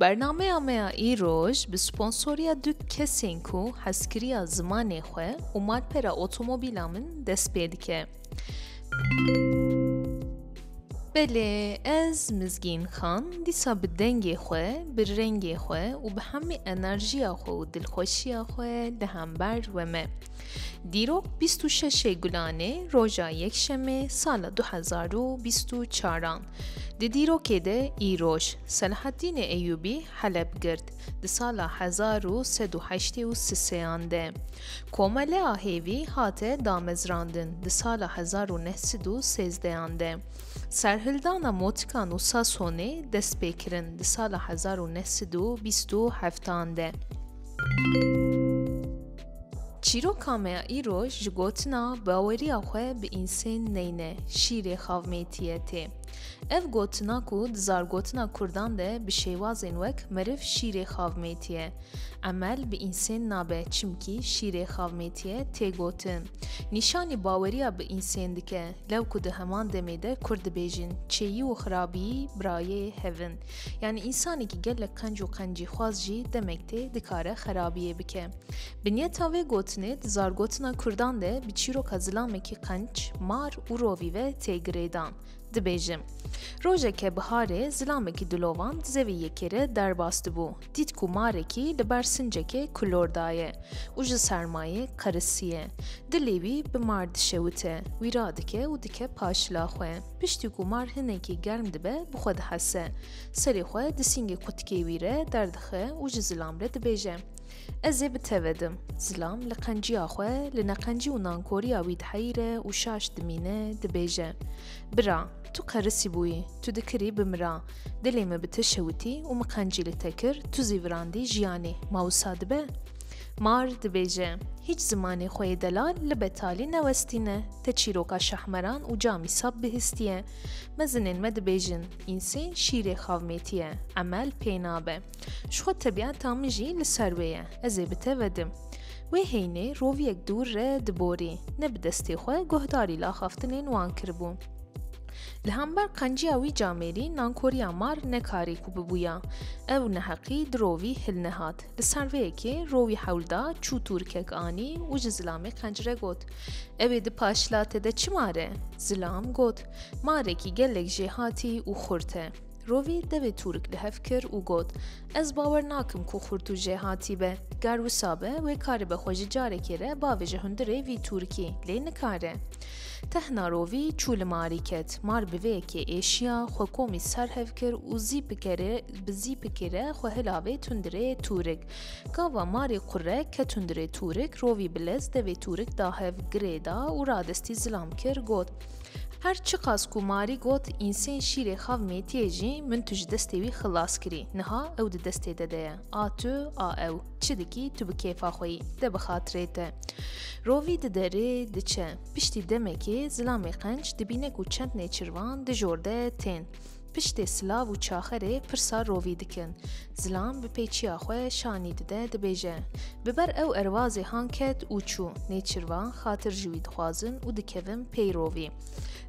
Bernameya me ya îroj bi sponsoriya du kesên ku hezkiriya zimanê xwe û malpera otomobîla min dest pê dike. Belê ez Mizgîn Xan dîsa bi dengê xwe, bi rengê xwe û bi hemî enerjiya xwe û dilxweşiya xwe li hember we me. Dîrok bîst û şeşê Gulanê roja Yekşemê sala du hezar û bîst û çar an Di dîrokê de îroj, Selahaddînê Eyûbî Heleb girt, di sala hezar û sed û heştê û siseyan de. Komelea hêvî hate damezrandin, di sala hezar û neh sed û sêzdeyan de. Serhildana motikan û Sasonê dest pê kirin, di sala hezar û neh sed û bîst û heftan de. Çîroka me ya îro ji gotina baweriya xwe bi însên neyne şîrê xavmêtiye tê. Ev gotina ku di zargotina kurdan de bi şêwazên wek meriv şîrê xavmêtiye, emel bi însên nabe çimkî şîrê xavmêtiye tê gotin. Nîşanî baweriya bi însên dike lew ku di heman demê de kurd dibêjin çêyî û xirabîyî birayê hev in. Yanî însanekî gelek qenc û qencîxwaz jî demek tê dikare xerabiyê bike. Binyeta vê gotinê di zargotina Kurdan de bi çîroka zilamekî qenc, mar û rovî ve tê girêdan. Dibêje. Rojeke biharê zilamekî dilovan di zevê yekê re derbas dibû, dît ku marekî li ber sincekê kulor daye û ji sermayê qerisiye. Dilê wî bi mar dişewite, wî radike û dike paşila xwe. Piştî ku mar hinekî germ dibe bi xwe dihese. Serê xwe di sîngê kutikê wî re derdixe û ji zilam re dibêje, Ez ê bi te ve dim. Zilam li qenciya xwe, li neqencî û nankoriya wî diheyre û şaş dimîne, dibêje, Bira, tu qerisî bûyî, tu dikirî bimira. Dilê min bi te şewitî û min qencî li te kir, tu zî virandî jiyanê, ma wisa dibe? Mar dibêje, Hîç zimanê xwe yê delal li betalî newestîne. Te çîroka Şahmeran û Camî Sap bihîstiye. Mezinên me dibêjin, Însên şîrê xavmêtî ye, emel pê nabe. Ji xwe tebîeta min jî li ser wê ye, ez ê bi te vedim. Wê heynê roviyek dûr re diborî, ne bi destê xwe guhdarî laxaftinên wan kiribû. Li hember qenciya wî camêrî nankoriya mar nekarî ku bibûya. Ew neheqî di rovî hilnehat. Li ser vê yekê rowî hewl da, çû tûrikek anî û ji Zilamê qencre got, Ew ê di paşla te de çi mare? Zilam got, Marekî gelek jêhatî û xurt e. Rovî devê tûrik li hev kir û got, Ez bawer nakim ku xurt û jêhatî be. Ger wisa be, wê karibe xwe ji carekê re bave ji hundirê vî tûrikî, lê nikare. Tehna rovî çû li marî ket. Mar bi vê yekê êşiya, xwe komî ser hev kir û zî pikerê Bi zîpikê re xwe hilavê tundirê tûrik. Kava marê qurek ke tundirê tûrik rovî bi lez devê tûrik da hev girê da û radestî zilam kir got Her çiqas ku marî got însên şîrê xav mêtiyê jî min tu ji destê wî xilas kirî niha ew di destê te de ye a tu a ew çi dikî tu bi kêfa xwe yî de bi xatirê te Rovî di derê diçe piştî demekê zilamê qenc dibîne ku çend nêçirvan di jor de tên. Piştê silav û çaxerê pirsa rovî dikin. Zilam bi pêçiya xwe şanî dide dibêje. Bi ber ew erwazê han ket û çû. Nêçirvan xatir ji wî dixwazin û dikevin pey rovî.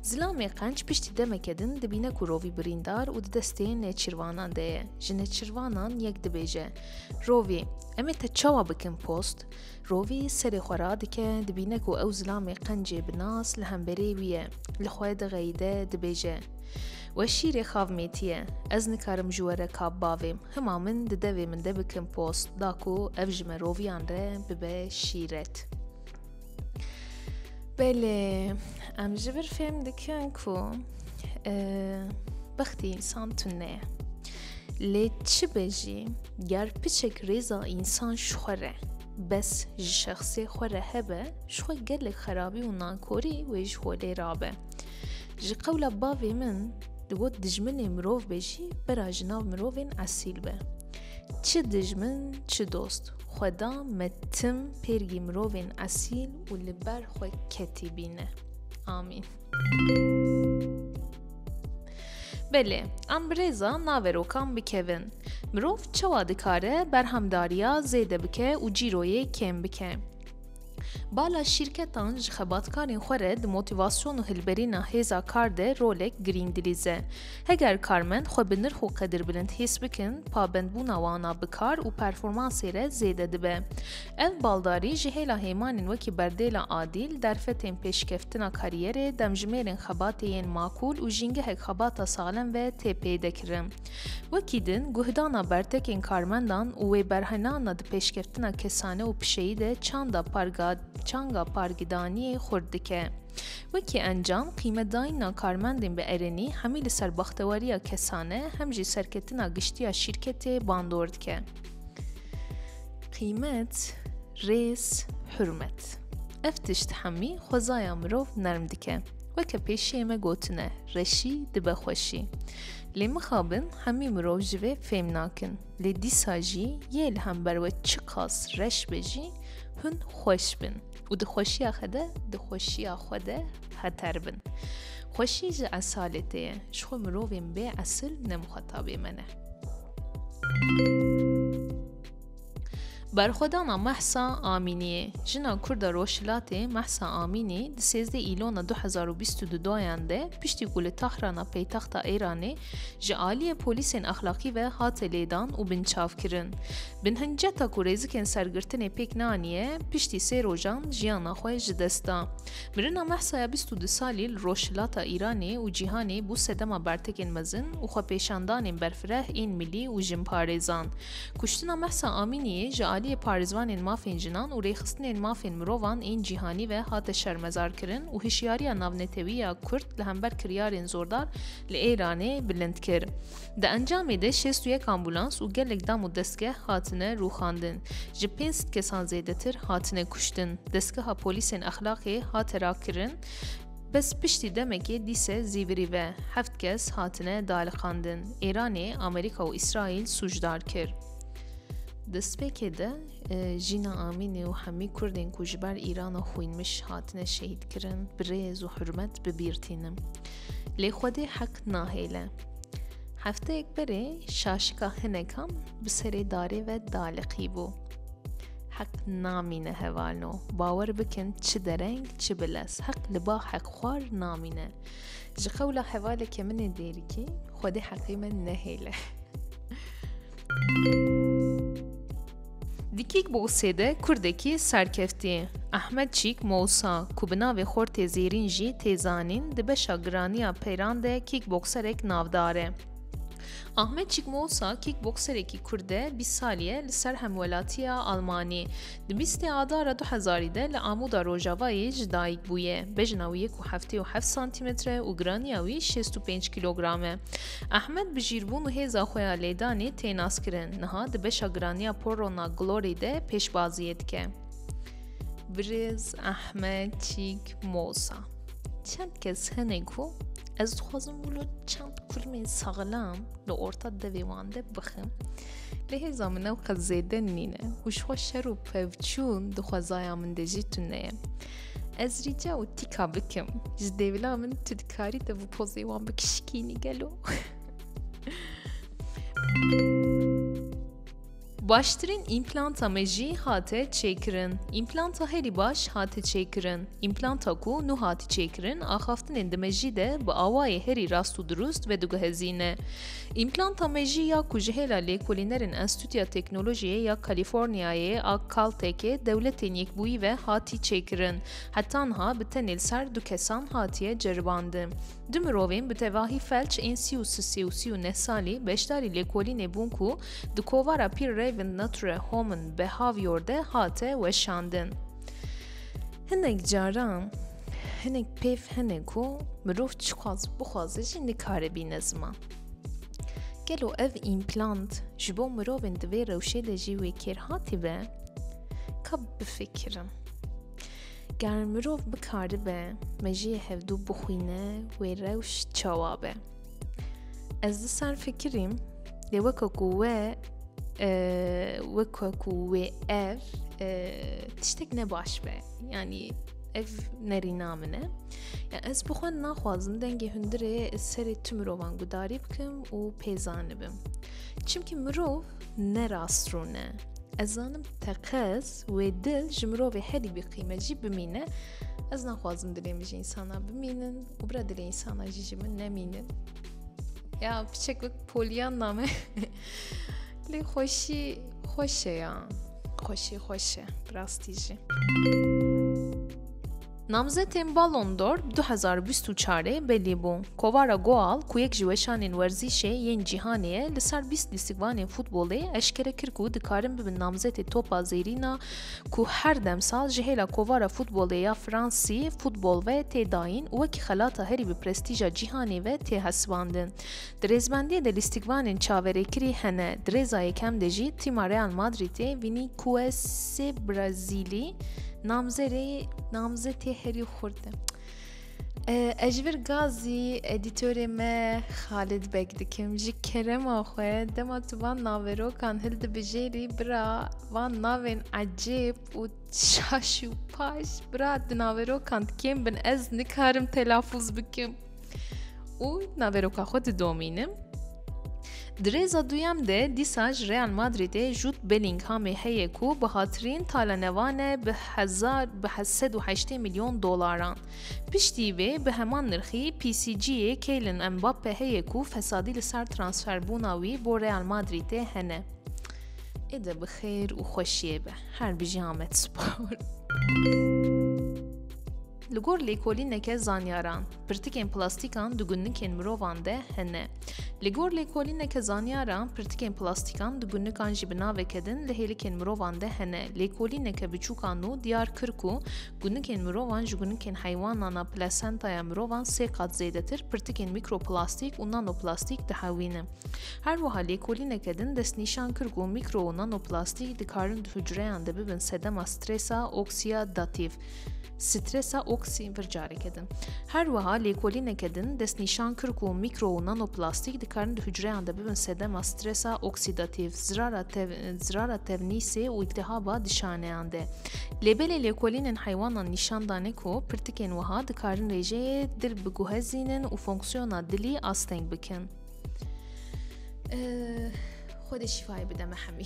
Zilamê qenc piştî demeke din dibîne ku rovî birîndar û di destê nêçirvanan de ye. Ji nêçirvanan yek dibêje, Rovî, em ê te çawa bikin post? Rovî serê xwe radike, dibîne ku ew zilamê qencê bi nas li hemberê wî ye. Li xwe dixeyide, dibêje. We şîrê xav mêtiye. Ez nikarim ji we re kap bavêm. Hima min di devê min de bikin post, da ku ev ji me roviyan re bibe şîret. Belê, em ji vir fêm dikin ku e, bextê însan tune ye. Lê çi be jî, ger piçek rêza însan ji xwe re, bes ji şexsê xwe re hebe, ji xwe gelek xerabî û nankorî wê ji holê rabe. Ji qewla bavê min, digot dijminê mirov be jî bera ji nav mirovên esîl be. Çi dijmin, çi dost, xweda me tim pêrgî mirovên esîl û li ber xwe ketî bîne. Amîn. Belê, em birêza naverokan bikevin. Mirov çawa dikare berhemdariya zêde bike û cîroyê kêm bike. Bala şîrketan ji xebatkarên xwe re di motivasyon û hilberîna hêza kar de rolek girîng dilîze. Heger karmend xwe bi nirx û qedirbilind hês bikin, pabendbûna wana bi kar û performansê re zêde dibe. Ev baldarî ji hêla hêmanên wekî berdêla adîl, derfetên pêşkeftina karîyerê, demjimêrên xebatê yên makûl û jîngehek xebata salem ve tê pêde kirin. Wekî din, guhdana bertekên karmendan û wê berhynana di pêşkeftina kesane û pişeyî de çanda parga çanga pargidanîyê xurt dike. Wekî encam, qîmetdayîna karmendên bi erenî hemî li ser baxtewarîya kesane hem jî serketina giştîya şîrketê bandor dike. Qîmet, rêz, hurmet. Ev tişt hemî xwezaya mirov nerm dike. Weke pêşiyê me gotine, reşî dibe xweşî. Lê mixabin hemî mirov ji vê fêm nakin. Lê dîsa jî yê li hember we çiqas reş be jî hûn xweş bin û di xweşiya xe de di xweşiya xwe de heter bin. Xweşî ji esaletê ye. Ji xwe mirovên bê esil ne mixwetabê me ne. Berxwedana Mehsa Amîniyê Jina Kurda Rojhilatê Mehsa Amînî di sêzdê îlona 2022 doyan de piştî ku li Tahrana peytexta Îranê ji aliyê polîsên exlaqî ve hate lêdan û binçavkirin. Bin hinceta ku rêzikên sergirtinê pêk neaniye piştî sê rojan jiyana xwe ji dest da. Mirina Mehsaya bîst û du salî li Rojhilata Îranê û cîhanê bû sedema bertekên mezin û xwepêşandanên berfireh ên milî û jinparêzan. Kuştina Mehsa Amîniyê ji aliyê parêzvanên mafên jinan û rêxistinên mafên mirovan ên cîhanî ve hate şermezarkirin û hişyariya navnetewî ya Kurd li hember kiryarên zordar li Îranê bilind kir. Di encamê de şêst û yek ambûlans û gelek dam û destgeh hatine rûxandin. Ji pênc sed kesan zêdetir hatine kuştin. Destgeha polîsên Exlaqê hate rakirin, bes piştî demekê dîse zîvirî ve heft kes hatine dialiqandin. Êranê Amerîka û Îsraîl sûcdar kir. Di spêkê de e, Jîna Amînê û hemî Kurdên ku ji ber Îrana xwînmiş hatine şehîdkirin, bi rêz û hurmet bibîrtînim. Lê Xwedê heq nahêle. Hefteyek berê şaşika hinekan bi serê darê ve daliqî bû. Heq namîne hevalno. Bawer bikin çi dereng çi bi lez. Heq li ba heq xwar namîne. Ji qewla hevaleke min ê dêrikî xwedê heqê me nehêle. Di kîkboksê de Kurdekî serkeftî Ahmet Çîk Mousa ku bi navê Xortê Zêrîn jî tê zanîn di beşa giraniya peyran de kîkbokserek navdar e. Ahmet Çîk Mousa kîkbokserekî Kurd e bîst salî ye li ser hemwelatiya Almanî. Di bîstê Adara du hezarî de li Amuda Rojavayê ji dayik bûye. Bejna wî yek û heftê û heft santîmetre û giraniya wî şêst û pênc kîlogram e. Ahmed bi jîrbûn û hêza xwe ya lêdanê tê naskirin. Niha di beşa giraniya Porrona Glory de pêşbaziyê dike. Birêz Ahmed Çîk Mosa. Çend kes hene ku ez dixwazim wilo çend kurmê saxlam li orta devê wan de bixim. Lê hêza min ew qet zêde nîne û ji xwe şer û pevçûn di xwezaya min de jî tune ye. Ez rîca û tîka bikim ji dêvila min tu dikarî te bi pozê wan bikişikînî gelo. Baştirîn împlanta me jî hate çêkirin. Împlanta herî baş hate çêkirin. Împlanta ku nû hatî çêkirin axaftinên di me jî de bi awayê herî rast û dirust vediguhezîne. Împlanta mejî ya ku ji hêla lêkolînerên Enstîtuya Teknolojiyê ya Kalîforniyayê a Caltech-ê Dewletên Yekbûyî ve hatî çêkirin. Heta niha bi tenê li ser du kesan hatiye ceribandin. Du mirovên bi tevahî felç ên sî û sisê û sî û neh salî beşdarî lêkolînê bûn ku di kovara Pir Raven Nature Home in Behavior de hate weşandin. Hinek caran hinek pêv hene ku mirov çixwaz bixwaze jî nikare bîne ziman. Gelo ev împlant ji bo mirovên di vê rewşê de jî wê kêr hatibe? Ka bifikirim. Ger mirov bikaribe mejiyê hevdû bixwîne wê rewş çawa be? Ez di ser fikirîm lê weke ku we weke ku wê ev tiştek ne baş be yanî ev nerîna min e ya ez bi xwe naxwazim dengê hundirê serê tu mirovan gudarî bikim û pêzanibim çimkî mirov ne rastrûn e ez zanim teqez wê dil ji mirovê herî bîqîme jî bimîne ez naxwazim dilê min ji însana bimînin û bira dilê insana jî ji min nemînin ya piçek wek polyan name lê xweşî xweş e ya xweşî xweş e bi rastî jî Namzetên Ballon d'Or 2024'ê belî bû. Kovara Goal ku yek ji weşanên werzîşê yên cîhanê ye li ser 20 lîstikvanên futbolê eşkere kir ku dikarin bibin namzetê Topa Zêrîna ku her demsal ji hêla kovara futbolê ya Fransî, Football ve tê dayîn û wekî xelata herî bi prestîja cîhanê ve tê hesibandin. Di rêzbendiyê de lîstikvanên çaverêkirî hene, di rêza yekem de jî tîma Real Madrîtê Vinîkuesê Brazîlî namzerê namzetê herî xurt e. Ez ji vir gazî edîtorê me Xalid Beg dikim ji kerema xwe dema tu van naverokan hil dibijêrî bira van navên ecêb û şaş û paş bira di naverokan dikêm bin ez nikarim telafûz bikim û naveroka xwe didomînim. Di rêza duyem de dîsa ji Real Madrîdê Jude Bellinghamê heye ku bi hatirîn talenevan e bi hezar bi sed û heştê milyon dolaran. Piştî vê bi heman nirxî PSG'ê Kylian Mbappe heye ku fesadî li ser transferbûna wî bo Real Madrîdê hene. Êde bi xêr û xweşiyê be. Her bijî Amed Spor. Li gor lêkolîneke zanyaran, pirtikên plastîkan di gunnikên mirovan de hene. Li gor lêkolîneke zanyaran, pirtikên plastîkan di gunnikan jî bi naveke din li hêlikên mirovan de hene. Lêkolîneke biçûka nû diyar kir ku gunnikên mirovan ji gunnikên heywanan a plasentaya mirovan sê qat zêdetir pirtikên mîkroplastîk û nanoplastîk dihewîne. Her wiha lêkolîneke din destnîşan kir ku mîkro û nanoplastîk dikarin di hucreyan de bibin sedema strêsa oksiyadatif. stresa oksî vir careke din. Her wiha lêkolîneke din destnîşan kir ku mîkro û nanoplastîk dikarin di hucreyan de bibin sedema stresa oksîdatîv, zirara tevnîsê û îltihaba di şaneyan de. Lê belê lêkolînên heywanan nîşan dane ku pirtikên wiha dikarin rêjeyê dil biguhezînin û fonksiyona dilî asteng bikin. Xwedê şîfayê bide me hemî.